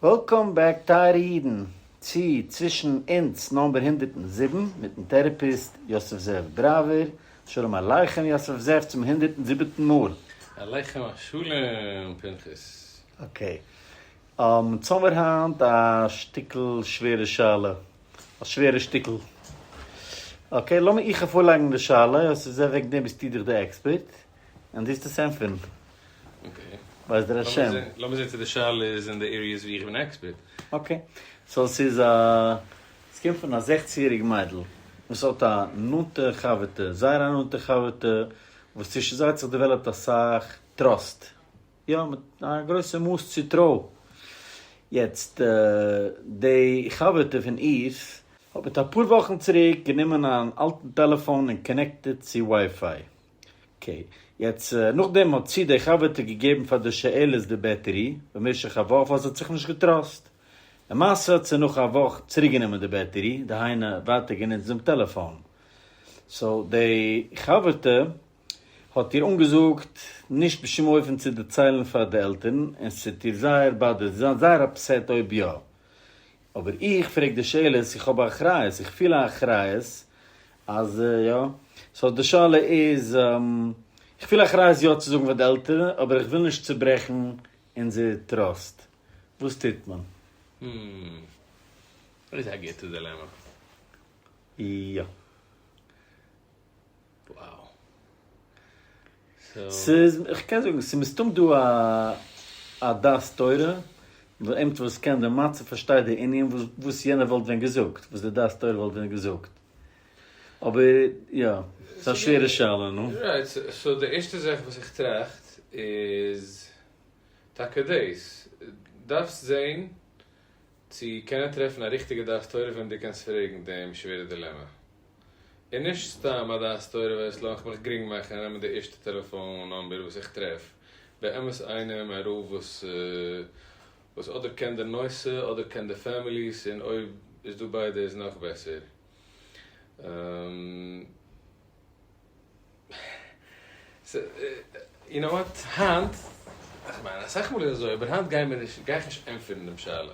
וועלקאם בעק טייערע אידן צו צווישן אונז נאמבער הונדערט און זיבן מיטן טערעפיסט יוסף זאב דרייווער, שלום עליכם יוסף זאב צום הונדערט און זיבעטן מאל. עליכם השלום פנחס. אקעי, צאמער היינט א שטיקל שווערע שאלה, א שווערע שטיקל. אקעי לאמיר איך איר פארלייגן די שאלה, יוסף זאב וועגן דעם ביסטו דאך די עקספערט. און דו האסט עס ענטפערן. אקעי. בעזר השם. לאמיר זעהן צו די שאלה איז אין די עריעס ווי איך בין עקספערט. אקעי. סאו ס'איז א. עס קומט פון א זעכצן יעריג מיידל וואס האט א נאנטע חבר'טע, זייער א נאנטע חבר'טע, וואס צווישן זיי האט זיך דעוועלאפט אסאך טראסט. יא, מיט א גרויסע מאס צוטרוי. יעצט, די חבר'טע פון איר האט מיט אפאר וואכן צוריק גענומען אן אלטן טעלעפאן און קאנעקטעד צו ווייפיי. אקעי. יעצט נאכדעם האט צו די חבר'טע געגעבן פאר די שאלות די בעטערי במשך א וואך ווייל זי האט זיך נישט געטראסט. למעשה האט זי נאך א וואך צוריקגענומען די בעטערי, דהיינו ווייטער גענוצט דעם טעלעפאן. סאו די חבר'טע האט איר אנגעזאגט נישט בשום אופן צו דערציילן פאר די עלטערן און ס'וועט איר זייער באדערן, זי וועט זיין זייער אפסעט אויב יא. אבער איך פרעג די שאלות, איך האב א אחריות, איך פיל א אחריות אז יא, סאו די שאלה איז, איך פיל א אחריות יא צו זאגן פאר די עלטערן, אבער איך וויל נישט צוברעכן אונזער טראסט, וואס טוט מען? הום. דאס איז א גוטע דילעמע. יא. וואו. ס'איז, איך קען זאגן, ס'איז מסתם דא א א דעת תורה, וואס איינער וואס קען די מצב פארשטייט די ענין וואס וואס יענער וואלט ווען געזאגט, וואס די דעת תורה וואלט ווען געזאגט. אבער יא, ס'איז א שווערע שאלה, נו. רייט, סאו די ערשטע זאך וואס איך טראכט איז טאקע דאס. דארפסט זען צו קענען טרעפן א ריכטיגע דעת תורה וועם דו קענסט פרעגן דעם שווערע דילעמע. און נישט סתם א דעת תורה ווערסלע וועל איך מיך גרינג מאכן און נעמען די ערשטע טעלעפאן נאמבער וואס איך טרעף, באמת איינעם ע ר וואס וואס אדער קען די נושא אדער קען די פעמיליס און אויב איז דא ביידע איז נאך בעסער. יו נאו וואט, היינט, כ'מיין אסאך מאל איז אזוי אבער היינט גיי מיר נישט גיי איך נישט ענטפערן דעם שאלה.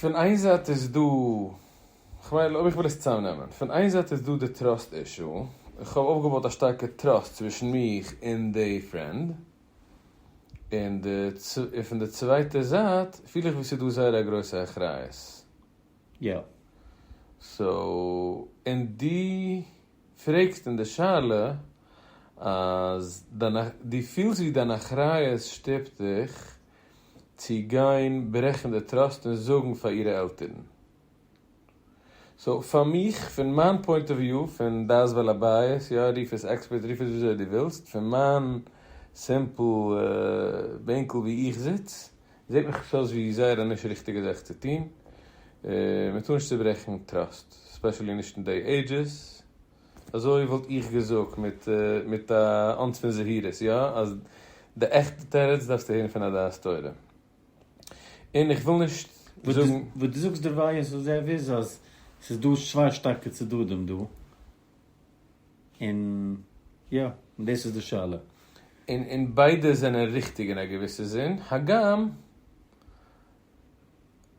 פון איין זייט איז דא, כ'מיין אויב איך וויל עס צוזאמנעמען, פון איין זייט איז דא די טראסט אישו, איך האב אויפגעבויט א שטארקע טראסט צווישן מיך און די פרענד, און פון די צווייטע זייט פיל איך ווי ס'איז דא זייער א גרויסע אחריות. יא. סאו, און דו פרעגסט אין די שאלה אז דיין, דו פילסט ווי דיין אחריות שטופט דיך. צו גיין ברעכן די טראסט און זאגן פאר אירע עלטערן. סאו פאר מיך, פון מיין פוינט אוו וויו, פון דעת בעל הבית, יא רוף עס עקספערט, רוף עס וויאזוי דו ווילסט, פון מיין סימפל בענקל וואו איך זיץ, זעט מיך עס אויס ווי זייער א נישט ריכטיגע זאך צו טון. מ'טאר נישט צוברעכן טראסט, ספעשעלי נישט אין דעי עידזשעס. אזוי וואלט איך געזאגט מיט מיט א אונס פון זהירות, יא, אז די עכטע תירוץ דארפסטו הערן פון א דעת תורה. און איך וויל נישט זאגן. וואס דו זאגסט דערווייל איז וואס זאב איז אז ס'איז דא צוויי שטארקע צדדים דא, און יא, און דאס איז די שאלה. און און ביידע זענען ריכטיג אין א געוויסע זין, הגם.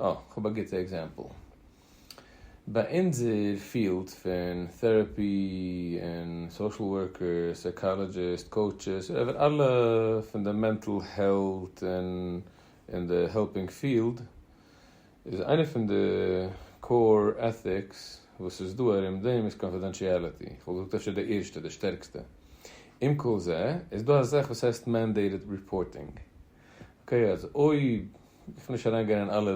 אה, כ'האב א גוטע עקזעמפל. ביי אונזער פיעלד פון טעראפי און סאושעל ווארקער, סייקאלאדזשיסט, קאוטשעס, אדער אלע פון די מענטל העלט און אין די העלפינג פיעלד, איז איינע פון די קאור עטיקס וואס איז דא ארום דעם איז קאנפידענטשיעליטי. כ'וואלט געזאגט אפשר די ערשטע, די שטערקסטע. עם כל זה, איז דא א זאך וואס הייסט מענדעיטעד ריפארטינג. אקעי אז אויב, איך וויל נישט אריין גיין אין אלע,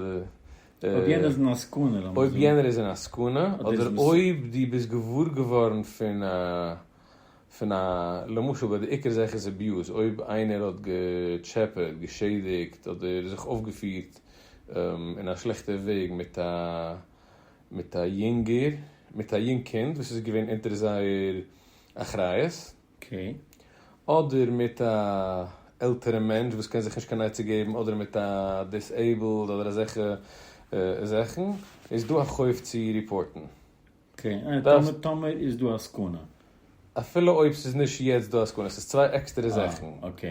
אויב יענער איז אין א סכנה לאמיר זאגן, אויב יענער איז אין א סכנה, אדער אויב דו ביסט געוואר געווארן פון א, פון א, למשל ביי די עיקר זאך איז אביוז, אויב איינער האט געטשעפעט, געשעדיגט, אדער זיך אויפגעפירט אין א שלעכטע וועג מיט א, מיט א יונגער, מיט א יונג קינד וואס איז געווען אונטער זייער אחריות, אקעי. אדער מיט א עלטערע מענטש וואס קען זיך נישט קיין עצה געבן, אדער מיט א דיסעיבלד אדער אזעלכע זאכן, איז דא א חוב צו ריפארטן. אקעי, טאמער טאמער איז דא א סכנה. אפילו אויב ס'איז נישט יעצט דא א סכנה, ס'איז צוויי עקסטערע זאכן. אה, אקעי.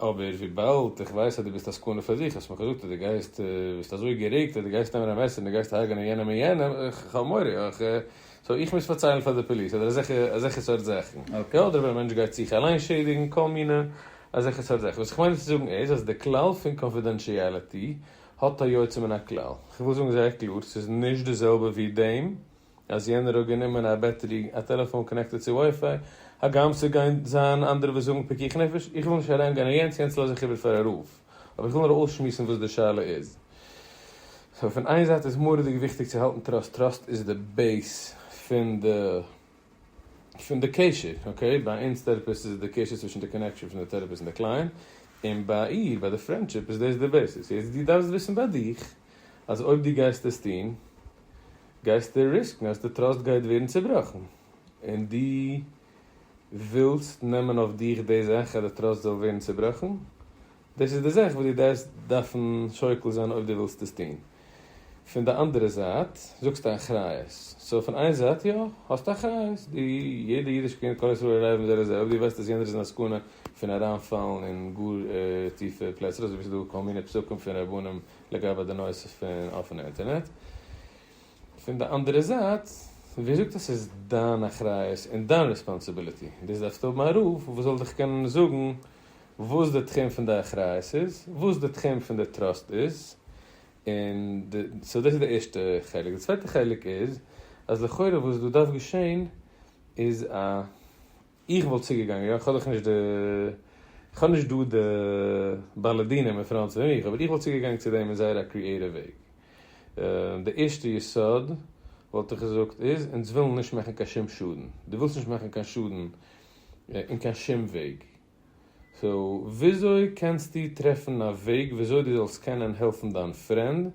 אבער וויבאלד איך ווייס אז דו ביסט א סכנה פאר זיך, האסט מיר געזאגט אז דו גייסט, ביסט אזוי גערעגט אז דו גייסט נעמען א מעסער און דו גייסט הרג'נען יענעם און יענעם, איך האב מורא, איך, סאו איך מוז פארציילן פאר די פאליס, אדער אזעלכע, אזעלכע סארט זאכן. יא, אדער ווען א מענטש גייט זיך אליין שעדיגן, כל מיני אזעלכע סארט זאכן. וואס איך מיין צו זאגן איז, אז די כלל פון קאנפידענטשיעליטי האט א יוצא מן הכלל. איך וויל זאגן זייער קלאר, ס'איז נישט די זעלבע ווי דעם. אז יענער האט גענומען א בעטערי א טעלעפאן קאנעקטעד צו ווייפיי, הגם ס'וועט גיין זיין אנדערע וואס זאגן פיקוח נפש, איך וויל נישט אריין גיין אין יענץ, יענץ לאז איך איבער פאר הרב, אבער איך וויל נאר אויסשמועסן וואס די שאלה איז. סאו פון איין זייט איז מורא'דיג וויכטיג צו האלטן טראסט, טראסט איז די בעיס פון די פון די קשר, אקעי, ביי אונז טערעפיסט איז עס די קשר צווישן די קאנעקשאן פון די טערעפיסט און די קלייענט, און ביי איר ביי די פרענדשיפ איז דאס די בעיסיס, יעצט דו דארפסט וויסן ביי דיך אז אויב דו גייסט עס טון, גייסטו ריסקן אז די טראסט גייט ווערן צובראכן, און דו ווילסט נעמען אויף דיך די זאך אז די טראסט זאל ווערן צובראכן? דאס איז די זאך וואס דו דארפסט דארפן שוקל זיין אויב דו ווילסט עס טון. פון די אנדערע זייט זאגסטו אחריות, סאו פון איין זייט יא, האסטו אחריות, דו, יעדע אידיש קינד, כל ישראל ערבים זה לזה, אויב דו ווייסט אז יענער איז אין א סכנה פון אריינפאלן אין גאר טיפע פלעצער, אזוי ווי ס'איז דא כל מיני פסקים פון רבנים, לגבי די נושא פון אפענע אינטערנעט, פון די אנדערע זייט ווער זאגט אז ס'איז דיין אחריות און דיין ריספאנסעבילעטי, דאס דארפסטו האבן א רב וואס זאל דיך קענען זאגן וואס די תחום פון די אחריות איז, וואס די תחום פון די טראסט איז, און די, סאו דאס איז די ערשטע חלק, די צווייטע חלק איז אז לכאורה וואס דא דארף געשען איז א איך וואלט צוגעגאנגען, יא, כ'האב דאך נישט די, כ'האב נישט דא די בעלי דינים אין פראנט פון מיך, אבער איך וואלט צוגעגאנגען צו דעם אין זייער א קריעטיוו וועג. די ערשטע יסוד וואלט איך געזאגט איז, אונז ווילן נישט מאכן קיין שום שאדן. דו ווילסט נישט מאכן קיין שאדן אין קיין שום וועג. סאו, וויאזוי קענסטו טרעפן א וועג וויאזוי דו זאלסט קענען העלפן דיין פרענד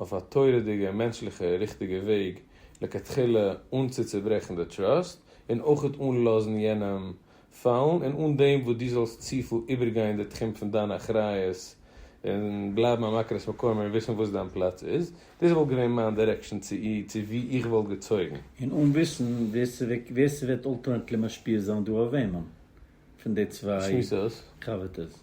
אויף א תורה'דיגע און מענטשליכע ריכטיגע וועג לכתחילה אן צוצוברעכן די טראסט און אויכעט אן לאזן יענעם פאלן און אן דעם וואס דו זאלסט צופיל איבערגיין די תחום פון דיין אחריות און בלייבן א מכרת מקוה מער וויסן וואס דיין פלאץ איז. דאס וואלט געווען מיין דירעקשאן צו אי צו ווי איך וואלט געצויגן. און אן וויסן ווער ס'וועק ווער ס'וועט אלטאנעטלי משפיע זיין דא אויף וועמען פון די צוויי שמועסערס. חבר'טעס.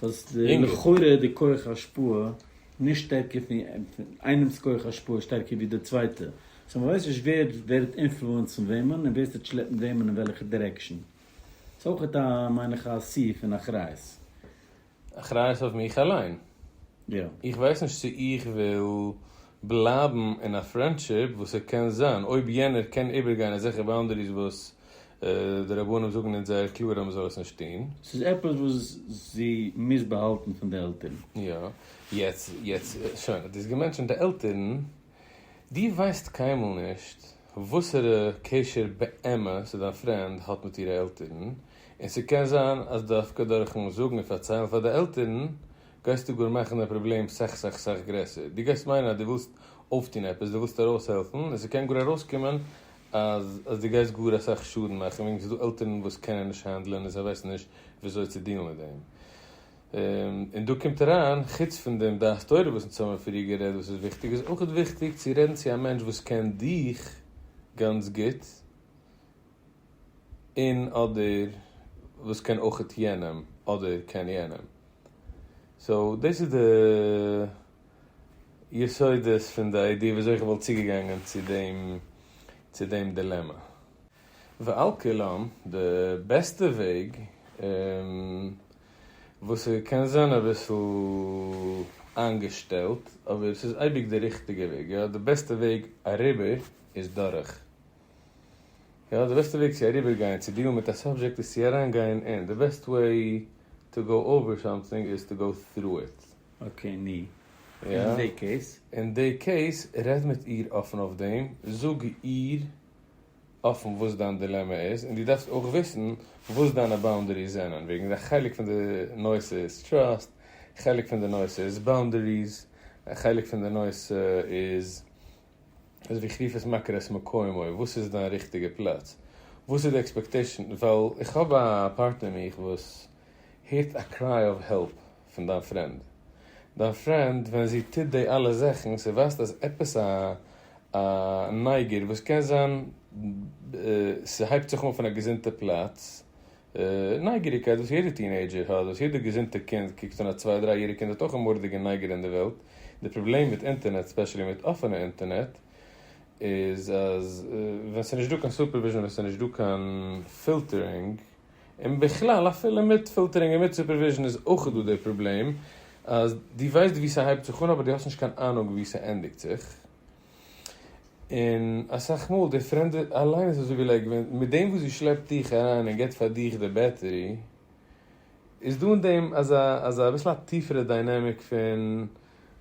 סאיז לכאורה די כח השפעה נישט שטערקער פון איינעמס כח השפעה איז שטערקער ווי די צווייטע סאו מ'ווייסט נישט ווער ווערט אינפלוענסן וועמען און ווער טוט שלעפן וועמען אין וועלכע דירעקשן סאיז אויכעט א מיין איך א סי פון אחריות. אחריות אויף מיך אליין. איך ווייס נישט צו איך וויל בלייבן אין א פרענדשיפ וואס ס'קען זיין אויב יענער קען איבערגיין אזעלכע באונדעריס וואס די רבנים זאגן אונז זייער קלאר אז מ'זאל עס נישט טון. ס'איז עפעס וואס זי מוז באהאלטן פון די עלטערן. יא, יעצט, יעצט, שוין, האט ער עס געמענטשענט די עלטערן, דו ווייסט קיינמאל נישט וואסערע קשר באמת וואס דיין פרענד האט מיט אירע עלטערן, און ס'קען זיין אז דווקא דורכ'ן זאגן און פארציילן פאר די עלטערן גייסטו גאר מאכן די פראבלעם סך סך סך גרעסער. דו גייסט מיינען אז דו ווילסט אויפטון עפעס, דו ווילסט ארויסהעלפן, און ס'קען גאר ארויסקומען אז אז דו גייסט גאר אסאך שאדן מאכן וועגן ס'איז דא עלטערן וואס קענען נישט האנדלען און זיי ווייסן נישט וויאזוי צו דילן מיט דעם. און דא קומט אריין, חוץ פון דעם דעת תורה וואס אונז האבן פריער גערעדט וואס איז וויכטיג, איז אויך וויכטיג צו רעדן צו א מענטש וואס קען דיך גאנץ גוט און אדער וואס קען אויך יענעם אדער קען יענעם. סאו דאס איז די. יסודות פון די איידיע וויאזוי איך וואלט צוגעגאנגען צו דעם צו דעם דילעמע. ועל כולם, די בעסטע וועג און וואס ס'קען זיין אביסל איינגעשטעלט אבער ס'איז אייביג די ריכטיגע וועג, יא, די בעסטע וועג אריבער איז דורך, יא, די בעסטע וועג צו אריבערגיין צו דיעלן מיט א סאבזשעקט איז צו אריינגיין אין, די בעסט וועי טו גאו אווער סאמטינג איז טו גאו טרו איט. אקעי ני. אין די קעיס? אין די קעיס, רעד מיט איר אפן אויף דעם, זאג איר אפן וואס דיין דילעמע איז, און דו דארפסט אויך וויסן וואס דיינע באונדעריס זענען, וועגן א חלק פון די נושא איז טראסט, א חלק פון די נושא איז באונדעריס, א חלק פון די נושא איז, אזויווי איך רוף עס מכיר את מקומו, וואס איז דיין ריכטיגע פלאץ, וואס איז די עקספעקטעישן, ווייל איך האב א פארטנער מיך וואס הערט א קריי אוו העלפ. פון דיין פרענד. דיין פרענד ווען זי טוט די אלע זאכן ס'איז ווייזט אז עפעס א א נייגער וואס קען זיין ס'הייבט זיך אן פון א געזונטע פלאץ נייגעריקייט וואס יעדע טינעידזשער האט וואס יעדע געזונטע קינד קוקט און א צוויי דריי יעריג קינד האט אויך א מורדיגע נייגער אין די וועלט די פראבלעם מיט אינטערנעט ספעשעלי מיט אפענע אינטערנעט איז אז ווען ס'איז נישט דא קיין סופערוויזשען ווען ס'איז נישט דא קיין פילטערינג און בכלל אפילו מיט פילטערינג און מיט סופערוויזשן איז אויך דא די פראבלעם אז דו ווייסט וואו ס'הייבט זיך אן אבער דו האסט נישט קיין אהנונג וואו ס'ענדיגט זיך. און אסאך מאל די פרעמדע אליינס וואס זאגן לייק ווען מיט דעם וואס זי שלעפט דיך אריין און גיבט פאר דיך די בעטערי איז דא אין דעם אזא אזא אביסל א טיפערע דיינעמיק פון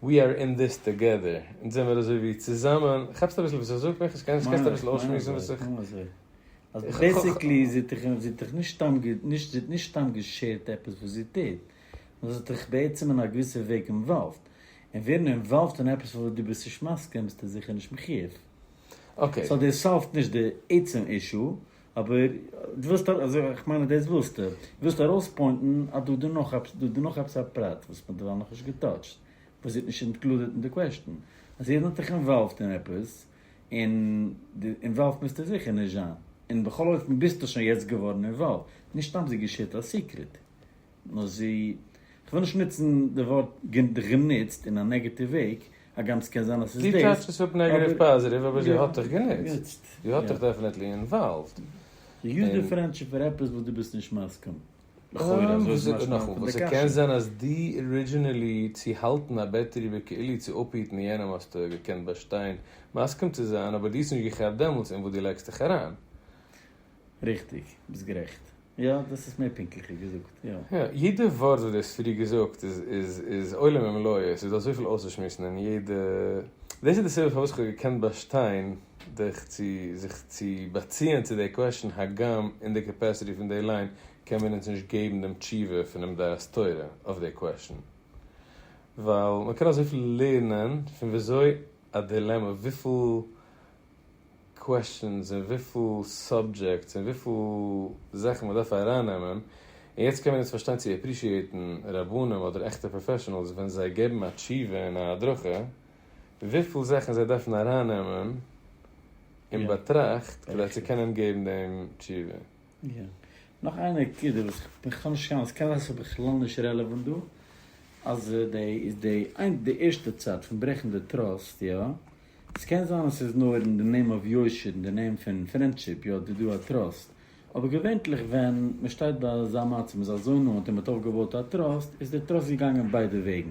we are in this together אונז זעמיר אזוי ווי צוזאמען כאפסט אביסל וואס איך זאג? מיכאל איך קען נישט קענסט אביסל אויסשמועסן וואס איך. אז בעסיקלי זי האט דיך זי האט דיך נישט סתם גע נישט זי האט נישט סתם געשערט עפעס וואס זי טוט, נאר זי האט דיך בעצם אין א געוויסע וועג אינוואלווד, און ווערן אינוואלווד אין עפעס פון וואס דו ביסט נישט מסכים ביסטו זיכער נישט מחיוב. אקעי. סאו דאס סאלווט נישט די עצם אישו, אבער דו ווילסט א אזוי איך מיין אז דאס ווילסטו, דו ווילסט ארויספוינטן אז דא איז דא נאך עפעס דא איז דא נאך עפעס א פרט וואס מ'האט דערווייל נאכנישט געטאטשט, וואס זי האט נישט אינקלודעט אין די קוועשטן, אז יעדן האט דיך אינוואלווד אין עפעס, און די אינוואלווד מוזטו זיכער נישט זיין, און בכל אופן ביזטו שוין יעצט געווארן אינוואלווד, נישט סתם זי געשערט א סיקרעט, נאר זי, כ'וויל נישט נוצן די ווארט גענוצט אין א נעגעטיוו וועג, הגם ס'קען זיין אז ס'איז דאס, אבער. זי טייטש עס אפ נעגעטיוו פאזיטיוו, אבער זי האט דיך גענוצט, זי האט דיך דעפענעטלי אינוואלווד. זי יוזט די פרענדשיפ פאר עפעס וואס דו ביזט נישט מסכים. וכו' אזוי איז משמע פון די קשיא. קען זיין אז די ארידזשינעלי צו האלטן א בעטערי וכו' צו אפהיטן יענעם האסטו געקענט באשטיין מסכים צו זיין אבער די האסט נישט געכאפט דעמאלטס אין וואס די לייגסט דיך אריין. ריכטיג, ביסט גערעכט. יא, דאס איז מער פונקטליכער געזאגט, יא. יא, יעדע ווארט וואס די האסט פריער געזאגט איז עולם ומלואו, עס איז דא אזויפיל אויסצושמועסן אין יעדע, דאס איז די סיבה פארוואס איך האב געקענט באשטיין. דיך צו זיך צו באציען צו די קוועשאן הגם אין די קעפעסיטי פון די ליין קען מען אונז נישט געבן דעם תשובה פונעם דעת תורה אויף די קוועשאן ווייל מען קען אזויפיל לערנען פון וויאזוי א דילעמע וויפיל קוועשאנס און וויפיל סאבדזשעקטס און וויפיל זאכן מען דארף אריינעמען און יעצט קען מען אונז פארשטיין צו עפרישיעטן רבנים אדער עכטע פראפעשענעלס ווען זיי געבן א תשובה און א הדרכה. וויפיל זאכן זיי דארפן ארייננעמען אין באטראכט כדי צו קענען געבן דעם תשובה. יא. נאך איין נקודה וואס איך כאב נישט קיין מסקנה ס'איז בכלל נישט רעלעוואנט דא, אז די די איין די ערשטע צד פון ברעכן די טראסט יא, ס'קען זיין אז ס'איז נאר אין די נעים אוו יושר אין די נעים פון פרענדשיפ יא די דא א טראסט, אבער געווענטליך ווען מען שטייט ביי אזא מצב, מען איז אזוי נאנט און מען האט אויפגעבויט א טראסט, איז דער טראסט געגאנגען ביידע וועגן,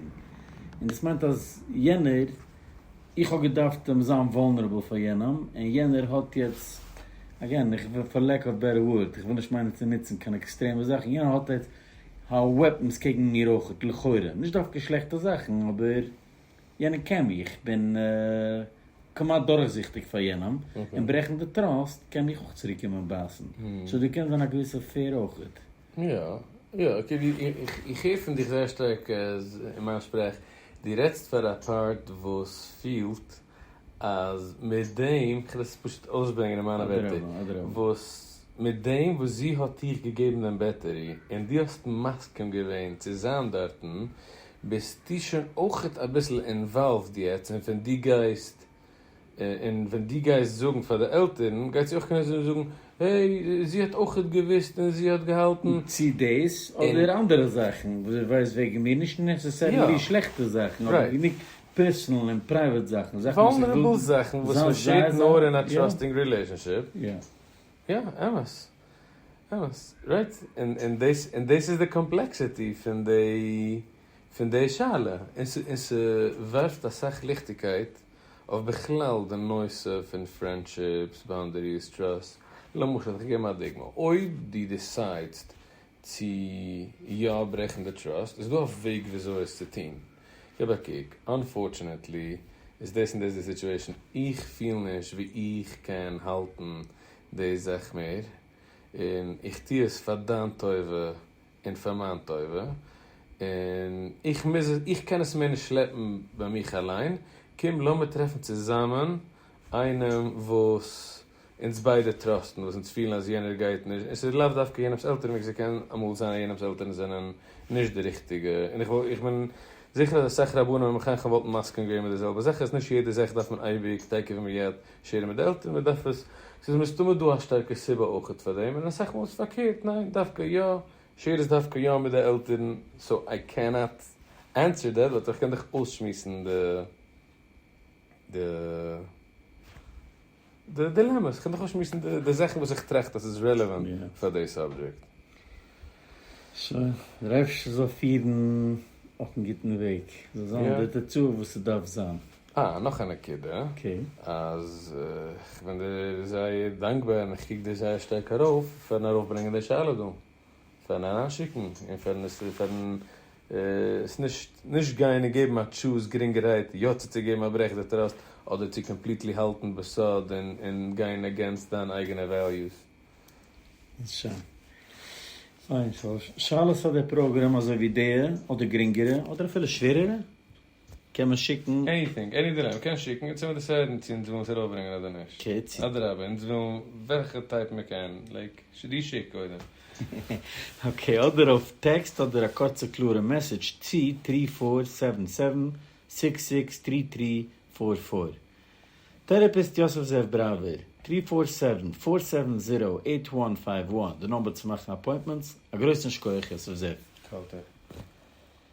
און דאס מיינט אז יענער, איך האב געדארפט אים זיין וואלנערעבל פאר יענעם, און יענער האט יעצט, אגעין, איך וועל פאר לעק אוו בעטער ווארד, איך וויל נישט מיינען צו נוצן קיין עקסטרעמע זאכן, יענער האט יעצט וועפנס קעגן מיר אויכעט, לכאורה, נישט דווקא שלעכטע זאכן, אבער. יענער קען מיך, איך בין כמעט דורכזיכטיג פאר יענעם, און ברעכן די טראסט קען מיך אויך צוריק קומען בייסן, סאו דא קען זיין א געוויסע פעיר אויכעט. יא יא איך הער פון דיך זייער שטארק אין מיין שפראך, דו רעדסט פאר א פארט וואס פילט אז מיט דעם, איך וועל עס פשוט אויסברענגען אין מיינע ווערטער, וואס מיט דעם וואס זי האט דיך געגעבן דעם בעטערי און דו האסט מסכים געווען צו זיין דארטן, ביסטו שוין אויכעט אביסל אינוואלווד יעצט און ווען דו גייסט און ווען דו גייסט זאגן פאר די עלטערן גייט זי אויך קענען זאגן זאגן העי זי האט אויכעט געוויסט און זי האט געהאלטן. צי דאס אדער אנדערע זאכן וואס זי ווייסט וועגן מיר נישט נעסעסערילי שלעכטע זאכן אבער גענוג פערסענעל און פרייוועט זאכן זאכן וואס איך וויל זיין זייער זייער. וואלנערעבל זאכן וואס מ'שעירט נאר אין א טראסטינג רילעישאנשיפ יא אמת. אמת, רייט, און דאס איז די קאמפלעקסיטי פון די שאלה, און ס'ווארפט אסאך ליכטיגקייט אויף בכלל די נושא פון פרענדשיפס, באונדעריס, טראסט, למשל, איך גיב א דוגמא, אויב דו דעסיידסט צו יא ברעכן די טראסט, איז דא א וועג וויאזוי עס צו טון? גיב א קוק, אנפארטשענעטלי איז דאס און דאס די סיטועשן, איך פיל נישט ווי איך קען האלטן די זאך מער, און איך טו עס פאר דיין טובה און פאר מיין טובה, און איך מוז, איך קען עס מער נישט שלעפן ביי מיך אליין, קום לאמיר טרעפן צוזאמען איינעם וואס אונז ביידע טראסטן וואס אונז פילן אז יענער גייט נישט, און ס'איז לאו דווקא יענעמ'ס עלטערן וועגן ס'קען אמאל זיין אז יענעמ'ס עלטערן זענען נישט די ריכטיגע, און איך וואלט איך בין זיכער אז אסאך רבנים און מחנכים וואלטן מסכים געווען מיט די זעלבע זאך אז נישט יעדע זאך דארף מען אייביג טעקעווען מיד שערן מיט די עלטערן, מען דארף עס ס'איז מסתמא דא א שטארקע סיבה אויכעט פאר דעם, און אסאך מאל איז פארקערט ניין דווקא יא שער עס דווקא יא מיט די עלטערן, סאו איי קען נאט ענסער דעט באט איך קען דאך אויסשמועסן די די. די דילעמע, איך קען דאך נישט מוזן די זאכן וואס איך טראכט אז ס'איז רעלעוואנט פאר די סאבדזשעקט. שוין, דער אייבערשטער זאל פירן אויפן גוטן וועג, ס'זאל זיין די תוצאה וואס ס'דארף זיין. אה, נאך א נקודה, אז איך בין דיר זייער דאנקבאר און איך קוק דיר זייער שטארק ארויף פארן ארויפברענגען די שאלה דא. פארן אריין שיקן און פארן עס פארן עס נישט נישט גיין און געבן א טשוז גרינגערהייט יא צו צוגעבן א ברעך די טראסט אדער צו קאמפליטלי האלטן בסוד און און גיין אגענסט דיין אייגענע וועליוס. שוין. פיין. שאלות פאר דער פראגראם אזוי ווי די אדער גרינגערע אדער אפילו שווערערע? קען מען שיקן? עניטינג, עני דילעמע, מ'קען שיקן, אונז העמיר דאס הערן צו אונז ווילן עס ארויפברענגען אדער נישט, אדרבה אונז ווילן וועלכע טייפ מ'קען, לייק, די שיק קודם. אקעי, אדער אויף טעקסט אדער א קורצע קלארע מעסעדזש צו טרי פאר סעווען סעווען סיקס סיקס טרי טרי פאר פאר. טערעפיסט יוסף זאב בראווער, טרי פאר סעווען פאר סעווען זירא עיט וואן פייוו וואן, די נומבער צו מאכן אפוינטמענטס, א גרויסן שקויעך יוסף זאב. קאלטער.